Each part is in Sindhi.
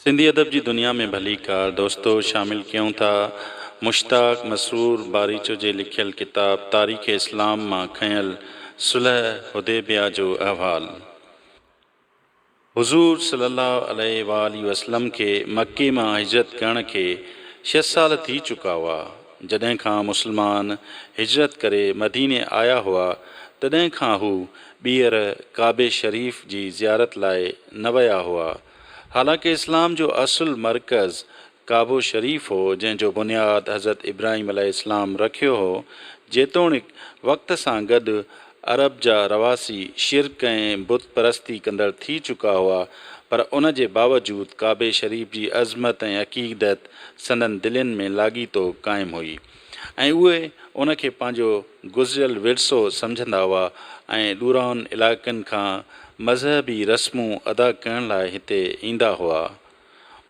سنڌي ادب جي دنيا ۾ ڀليڪار دوستو شامل ڪيون ٿا مشتاق مسرور باريچو جي لکيل ڪتاب تاريخ اسلام مان کنيل صلح حديبيه جو احوال حضور صلي الله عليه واٰله وسلم کي مڪي مان هجرت ڪرڻ کي ڇهه سال ٿي چڪا هئا جڏهن کان مسلمان هجرت ڪري مديني آيا هئا تڏهن کان هو ٻيهر ڪعبي شريف جي زيارت لاء نه ويا هئا. حالانڪ اسلام جو اصل مرڪز ڪعبو شريف هو جنهن جو بنياد حضرت ابراهيم عليه السلام رکيو هو، جيتوڻيڪ وقت سان گڏ عرب جا رهواسي شرڪ ۽ بت پرستي ڪندڙ ٿي چڪا هئا پر ان جي باوجود ڪعبي شريف جي عظمت ۽ عقيدت سندن دلين ۾ لاڳيتو قائم هئي. ۽ اهي ان کي پنهنجو گذريل ورثو سمجهندا هئا ۽ ڏورانهن علائقن کان مذهبي رسمون ادا ڪرڻ لاء هتي ايندا هئا.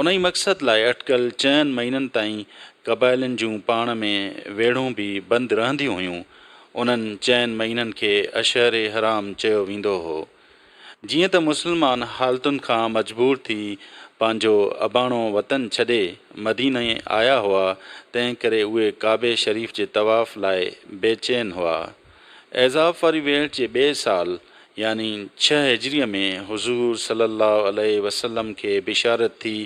انهي مقصد لاء اٽڪل چئن مهينن تائين قبائلين جون پاڻ ۾ ويڙهون به بند رهنديون هيون. انهن چئن مهينن کي اشهر حرام چيو ويندو هو. جيئن ته مسلمان حالتن کان مجبور ٿي پنهنجو اباڻو وطن ڇڏي مديني آيا هئا تنهن ڪري اهي ڪعبي شريف جي طواف لاء بي چين هئا. اعزاب واري ويهٽ جي ٻئي سال يعني ڇهه هجريء ۾ حضور صلي الله عليه وسلم کي بشارت ٿي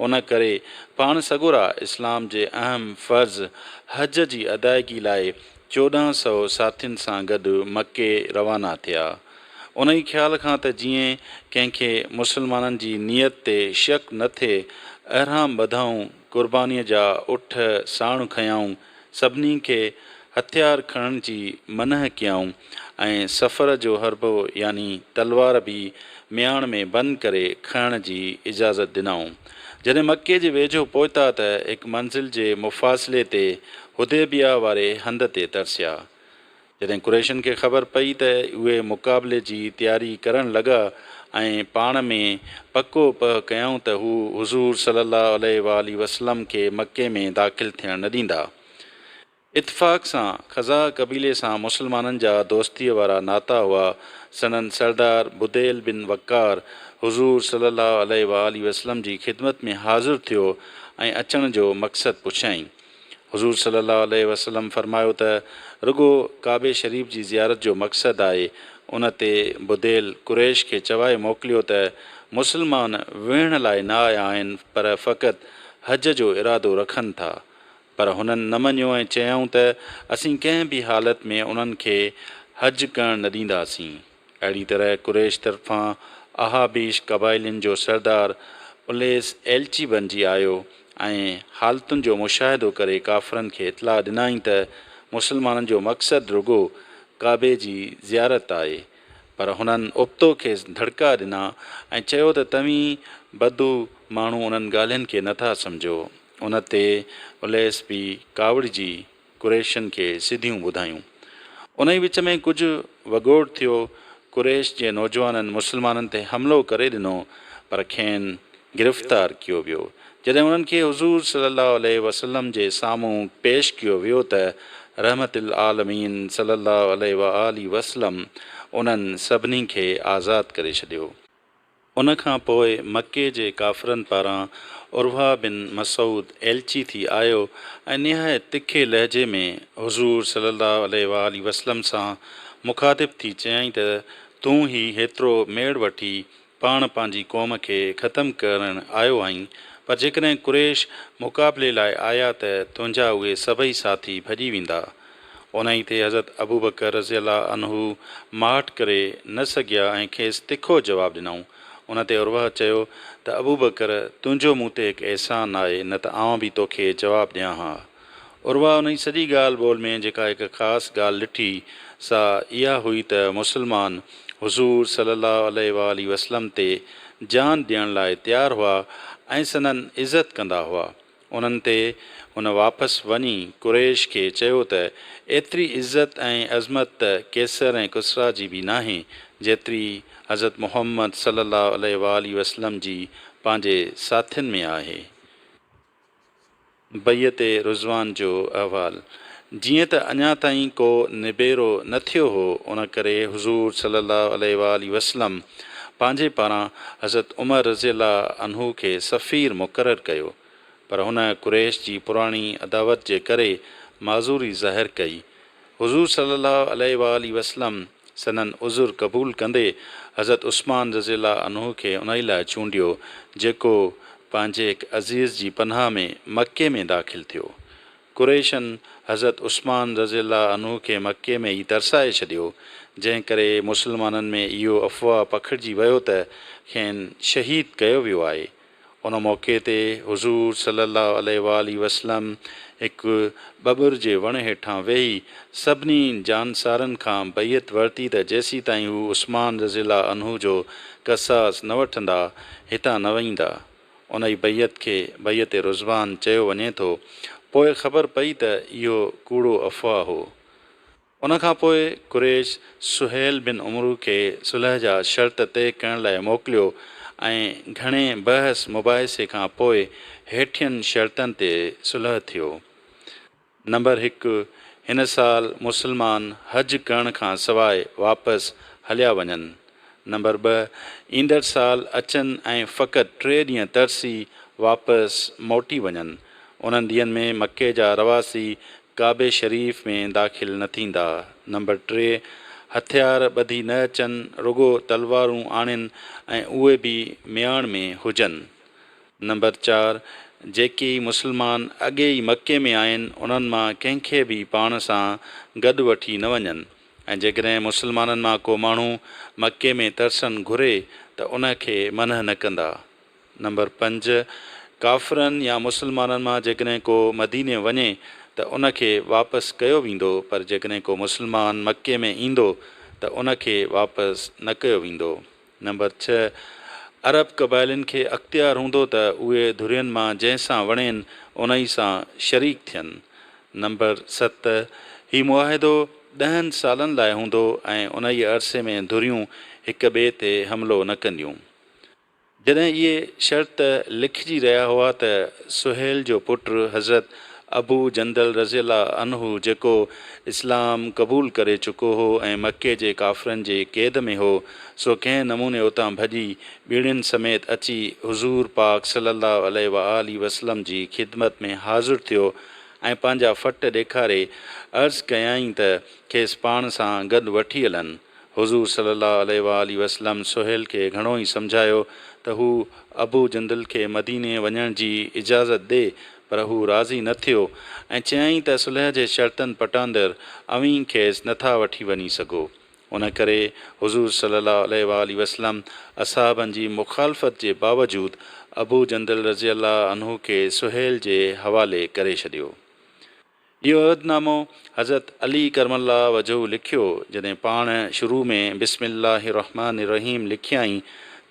ان ڪري پاڻ سڳورا اسلام جي اهم فرض حج جي ادائگي لاء چوڏهن سؤ ساٿين سان گڏ مڪي روانا ٿيا. انهيء خيال کان ته جيئن ڪنهن کي مسلمانن جي نيت تي شڪ نه ٿئي، اهرام ٻڌائون، قربانيء جا اٺ ساڻ کنيائون، سڀني کي هٿيار کڻڻ جي منع ڪيائون ۽ سفر جو حربو يعني تلوار به مياڻ ۾ بند ڪري کڻڻ جي اجازت ڏنائون. جڏهن مڪي جي ويجهو پهتا ته هڪ منزل جي مفاصلي تي حديبيه واري هنڌ تي ترسيا. جڏهن قريشن کي خبر پئي ته اهي مقابلي جي تياري ڪرڻ لڳا ۽ پاڻ ۾ پڪو پهه ڪيائون ته هو حضور صلي الله عليه واٰله وسلم کي مڪي ۾ داخل ٿيڻ نه ڏيندا. اتفاق سان خزاع قبيلي سان مسلمانن جا دوستيء وارا ناتا هئا، سندن سردار بديل بن وقار حضور صلي الله عليه واٰله وسلم جي خدمت ۾ حاضر ٿيو ۽ اچڻ جو مقصد پڇيائين. حضور صلي الله عليه وسلم فرمايو ته رڳو ڪعبي شريف جي زيارت جو مقصد آهي ان تي بديل قريش کي چوائي موڪليو ته مسلمان ويهڻ لاء نه آيا آهن پر فقط حج جو ارادو رکن ٿا پر هنن نه مڃيو ۽ چيائون ته اسين ڪنهن به حالت ۾ انهن کي حج ڪرڻ نه ڏينداسين. اهڙي طرح قريش طرفان احابيش قبائلين جو سردار اليس ايلچي بنجي آيو ۽ حالتن جو مشاهدو ڪري ڪافرن کي اطلاع ڏنائين ته مسلمانن جو مقصد رڳو ڪعبي جي زيارت آهي پر هنن ابتو کيس ڌڙڪا ڏنا ۽ چيو ته توهين بدو ماڻهو انهن ڳالهين کي نٿا سمجهو ان تي اليس به ڪاوڙجي قريشين کي سڌيون ٻڌايون. انهي وچ ۾ ڪجهه وڳوڙ ٿيو، قريش جي نوجوانن مسلمانن تي حملو ڪري ڏنو، پر کين گرفتار ڪيو ويو. جڏهن انهن کي حضور صلي الله عليه وسلم جي سامهون پيش ڪيو ويو ته رحمت العالمين صلي الله عليه واٰله وسلم انهن سڀني کي آزاد ڪري ڇڏيو. ان کان پوء مڪي جي ڪافرن پاران عروه بن مسعود ايلچي ٿي آيو ۽ نهايت تکي لهجي ۾ حضور صلي الله عليه واٰله وسلم سان مخاطب ٿي چيائين ته، تون هي هيترو ميڙ وٺي پاڻ پنهنجي قوم کي ختم ڪرڻ آيو آهين، پر جيڪڏهن قريش مقابلي لاء آيا ته تنهنجا اهي سڀئي ساٿي ڀڄي ويندا. انهيء تي حضرت ابوبڪر رضي الله عنه ماٺ ڪري نه سگهيا ۽ کيس تکو جواب ڏنائون. ان تي عروه چيو ته ابوبڪر تنهنجو مون تي هڪ احسان آهي نه ته آئون به توکي جواب ڏيان ها. عروه انهيء سڄي ڳالهه ٻولهه ۾ جيڪا هڪ خاص ڳالهه ڏٺي سا اها هئي ته مسلمان حضور صلي الله عليه واٰله وسلم تي جان ڏيڻ لاء تيار هئا ۽ سندن عزت ڪندا هئا. انهن تي هن واپس وڃي قريش کي چيو ته ايتري عزت ۽ عظمت ته قيصر ۽ ڪسريٰ جي به ناهي جيتري حضرت محمد صلّي اللّٰه عليه واٰله وسلّم جي پنهنجي ساٿين ۾ آهي. بيعت رضوان جو احوال، جيئن ته اڃا تائين ڪو نبيرو نه ٿيو هو، ان ڪري حضور صلّي اللّٰه عليه واٰله وسلّم پنهنجي پاران حضرت عمر رضي الله عنه کي سفير مقرر ڪيو، پر هن قريش جي پراڻي عداوت جي ڪري معذوري ظاهر ڪئي. حضور صلّي اللّٰه عليه واٰله وسلّم سندن عذر قبول ڪندي حضرت عثمان رضي الله عنه کي انهي لاء چونڊيو، جيڪو پنهنجي هڪ عزيز جي پناهه ۾ مڪي ۾ داخل ٿيو. قريشن حضرت عثمان رضي الله عنه کي مڪي ۾ ئي ترسائي ڇڏيو، جنهن ڪري مسلمانن ۾ اهو افواهه پکڙجي ويو ته کين شهيد ڪيو ويو آهي. ان موقعي تي حضور صلي الله عليه واٰله وسلم هڪ ٻٻر جي وڻ هيٺان ويهي سڀني جانثارن کان بيعت ورتي ته جيسيتائين هو عثمان رضي الله عنه جو قصاص نه وٺندا، هتان نه وهيندا. انهيء بيعت کي بيعت رضوان چيو وڃي ٿو. پوء خبر پئي ته اهو ڪوڙو افواهه هو. ان کان پوء قريش سهيل بن عمرو کي صلح جا شرط طئي ڪرڻ لاء موڪليو ۽ گهڻي بحث مباحثي کان پوء هيٺين شرطن تي صلح ٿيو. نمبر هڪ، هن سال مسلمان حج ڪرڻ کان سواء واپس هليا وڃن. نمبر ٻه، ايندڙ سال اچن ۽ فقط ٽي ڏينهن ترسي واپس موٽي وڃن. انهن ڏينهن ۾ مڪي جا رهواسي ڪعبي شريف ۾ داخل نه ٿيندا. نمبر ٽي، هٿيار ٻڌي نه اچن، رڳو تلوارون آڻين ۽ اهي به مياڻ ۾ هجن. نمبر چار، جيڪي مسلمان اڳي ئي مڪي ۾ آهن انهن مان ڪنهن کي به پاڻ سان گڏ وٺي نه وڃن ۽ جيڪڏهن مسلمانن مان ڪو ماڻهو مڪي ۾ ترسن گهري ته ان کي منع نه ڪندا. نمبر پنج، ڪافرن يا مسلمانن مان جيڪڏهن ڪو مديني وڃي ته ان کي واپس ڪيو ويندو پر جيڪڏهن ڪو مسلمان مڪي ۾ ايندو ته ان کي واپس نه ڪيو ويندو. نمبر ڇهه، عرب قبائلين کي اختيار هوندو ته اهي ڌرين مان جنهن سان وڻين انهي سان شريڪ ٿين. نمبر ست، هي معاهدو ڏهن سالن لاء هوندو ۽ انهيء عرصي ۾ ڌريون هڪ ٻئي تي حملو نه ڪنديون. جڏهن اهي شرط لکجي رهيا هئا ته سهيل جو پٽ حضرت ابو جندل رضي الله عنه جيڪو اسلام قبول ڪري چڪو هو ۽ مڪي جي ڪافرن جي قيد ۾ هو، سو ڪنهن نموني اتان ڀڄي ٻيڙين سميت اچي حضور پاڪ صلّي اللّٰه عليه واٰله وسلّم جي خدمت ۾ حاضر ٿيو ۽ پنهنجا ڦٽ ڏيکاري عرض ڪيائين ته کيس پاڻ سان گڏ وٺي هلن. حضور صلّي اللّٰه عليه واٰله وسلّم سهيل کي گهڻو ئي سمجهايو ته هو ابو جندل کي مديني وڃڻ جي اجازت ڏي، پر هو راضي نه ٿيو ۽ چيائين ته صلح جي شرطن پٽاندر اوهين کيس نه ٿا وٺي وڃي سگهو. ان ڪري حضور صلّي اللّٰه عليه واٰله وسلّم اصحابن جي مخالفت جي باوجود ابو جندل رضي الله عنه کي سهيل جي حوالي ڪري ڇڏيو. اهو عهد نامو حضرت علي ڪرم الله وجهه لکيو، جڏهن پاڻ شروع ۾ بسم الله الرحمٰن الرحيم لکيائين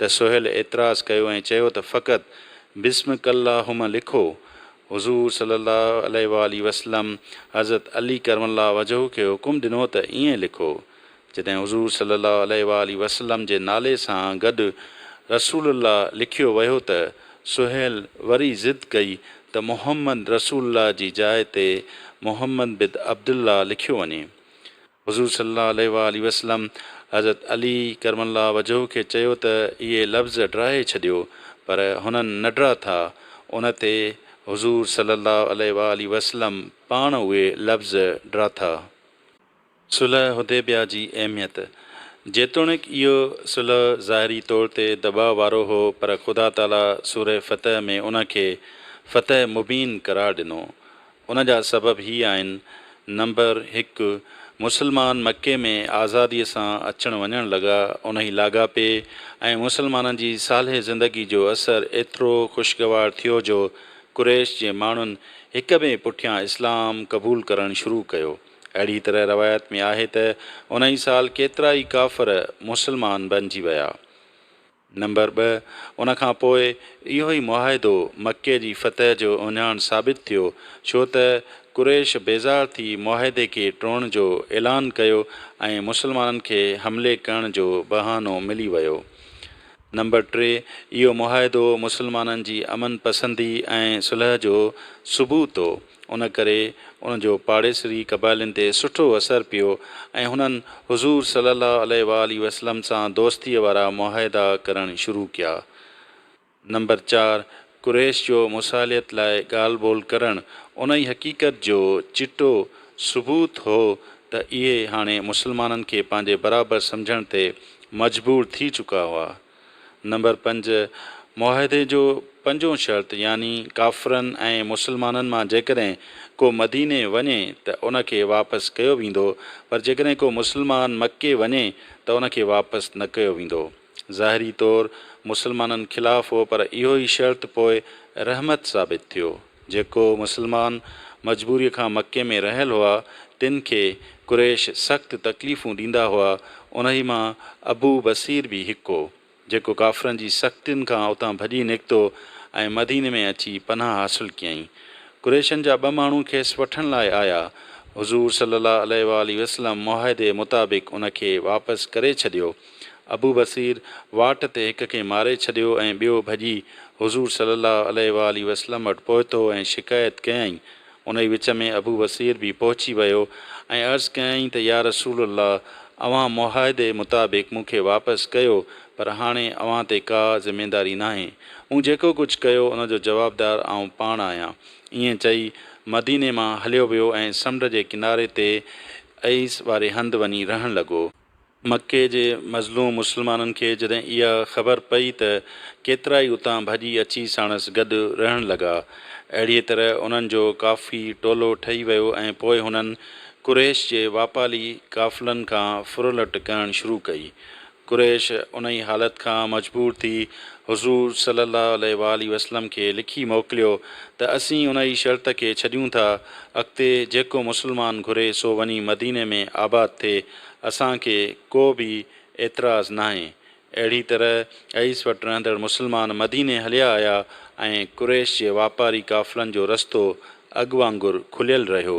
ته سهيل اعتراض ڪيو ۽ چيو ته فقط بسمڪ اللهم لکو. حضور صلي الله عليه واٰله وسلم حضرت علي ڪرم الله وجهه کي حڪم ڏنو ته ائين لکو. جڏهن حضور صلّي اللّٰه عليه واٰله وسلّم جي نالي سان گڏ رسول الله لکيو ويو ته سهيل وري ضد ڪئي ته محمّد رسول الله جي جاء تي محمّد بد عبد الله لکيو وڃي. حضور صلّي اللّٰه عليه واٰله وسلّم حضرت علي ڪرم الله وجهه کي چيو ته اهي لفظ ڊاهي ڇڏيو پر هنن نه ڊاٿا ان تي حضور صلّي اللّٰه عليه واٰله وسلّم پاڻ اهي لفظ ڊاٿا. صلح حديبيه جي اهميت، جيتوڻيڪ اهو صلح ظاهري طور تي دٻاء وارو هو پر خدا تعاليٰ سوره فتح ۾ ان کي فتح مبين قرار ڏنو. ان جا سبب هي آهن، نمبر هڪ، مسلمان مڪي ۾ آزادي سان اچڻ وڃڻ لڳا، انهي لاڳاپي ۽ مسلمانن جي صالح زندگي جو اثر ايترو خوشگوار ٿيو جو قريش جي ماڻهن هڪ ٻئي پٺيان اسلام قبول ڪرڻ شروع ڪيو. اهڙيء طرح روايت ۾ آهي ته ان ئي سال ڪيترا ئي ڪافر مسلمان بنجي ويا. نمبر ٻه، ان کان پوء اهو ئي معاهدو مڪي جي فتح جو اهڃاڻ ثابت ٿيو، ڇو ته قريش بيزار ٿي معاهدي کي ٽوڙڻ جو اعلان ڪيو ۽ مسلمانن کي حملي ڪرڻ جو بهانو ملي ويو. نمبر ٽي، اهو معاهدو مسلمانن جي امن پسندي ۽ صلح جو ثبوت هو. ان ڪري ان جو پاڙيسري قبائلين تي سٺو اثر پيو ۽ هنن حضور صلي الله عليه وآله وسلم سان دوستيء وارا معاهدا ڪرڻ شروع ڪيا. نمبر چار، قريش جو مصالحت لاء ڳالهه ٻولهه ڪرڻ انهي حقيقت جو چٽو ثبوت هو ته اهي هاڻي مسلمانن کي پنهنجي برابر سمجهڻ تي مجبور ٿي چڪا هئا. نمبر پنج، معاهدي جو پنجون شرط يعني ڪافرن ۽ مسلمانن مان جيڪڏهن ڪو مديني وڃي ته ان کي واپس ڪيو ويندو پر جيڪڏهن ڪو مسلمان مڪي وڃي ته ان کي واپس نه ڪيو ويندو. ظاهري طور مسلمانن خلاف هو پر اهو ئي شرط پوء رحمت ثابت ٿيو. جيڪو مسلمان مجبوريء کان مڪي ۾ رهيل هئا، تن کي قريش سخت تڪليفون ڏيندا هئا، انهي مان ابو بصير به هڪ هو، جيڪو ڪافرن جي سختين کان اتان ڀڄي نڪتو ۽ مديني ۾ اچي پناهه حاصل ڪيائين. قريشن جا ٻه ماڻهو کيس وٺڻ لاء آيا، حضور صلّي اللّٰه عليه واٰله وسلّم معاهدي مطابق ان کي واپس ڪري ڇڏيو، ابو بصير واٽ تي هڪ کي ماري ڇڏيو ۽ ٻيو ڀڄي حضور صلّي اللّٰه عليه واٰله وسلّم وٽ پهتو ۽ شڪايت ڪيائين. انهي وچ ۾ ابو بصير به پهچي ويو ۽ عرض ڪيائين ته يا رسول الله اوهان معاهدي مطابق مون کي واپس ڪيو پر هاڻي اوهان تي ڪا ذميداري ناهي. مون جيڪو ڪجھ ڪيو ان جو جوابدار آئون پاڻ آهيان. ائين چئي مديني مان هليو ويو ۽ سمنڊ جي ڪناري تي عيس واري هنڌ وڃي رهڻ لڳو. مڪي جي مظلوم مسلمانن کي جڏهن اها خبر پئي ته ڪيترائي اتان ڀڄي اچي ساڻس گڏ رهڻ لڳا. اهڙيء طرح انهن جو ڪافي ٽولو ٺهي ويو ۽ پوء هنن قريش جي واپالي قافلن کان ڦرلٽ ڪرڻ شروع ڪئي. قريش انهي حالت کان مجبور ٿي حضور صلي الله عليه واٰله وسلم کي لکي موڪليو ته اسين انهي شرط کي ڇڏيون ٿا اڳتي جيڪو مسلمان گهري سو وڃي مديني ۾ آباد ٿئي اسان کي ڪو به اعتراض ناهي. اهڙي طرح عيس وٽ رهندڙ مسلمان مديني هليا آيا ۽ قريش جي واپاري قافلن جو رستو اڳ وانگر کليل رهيو.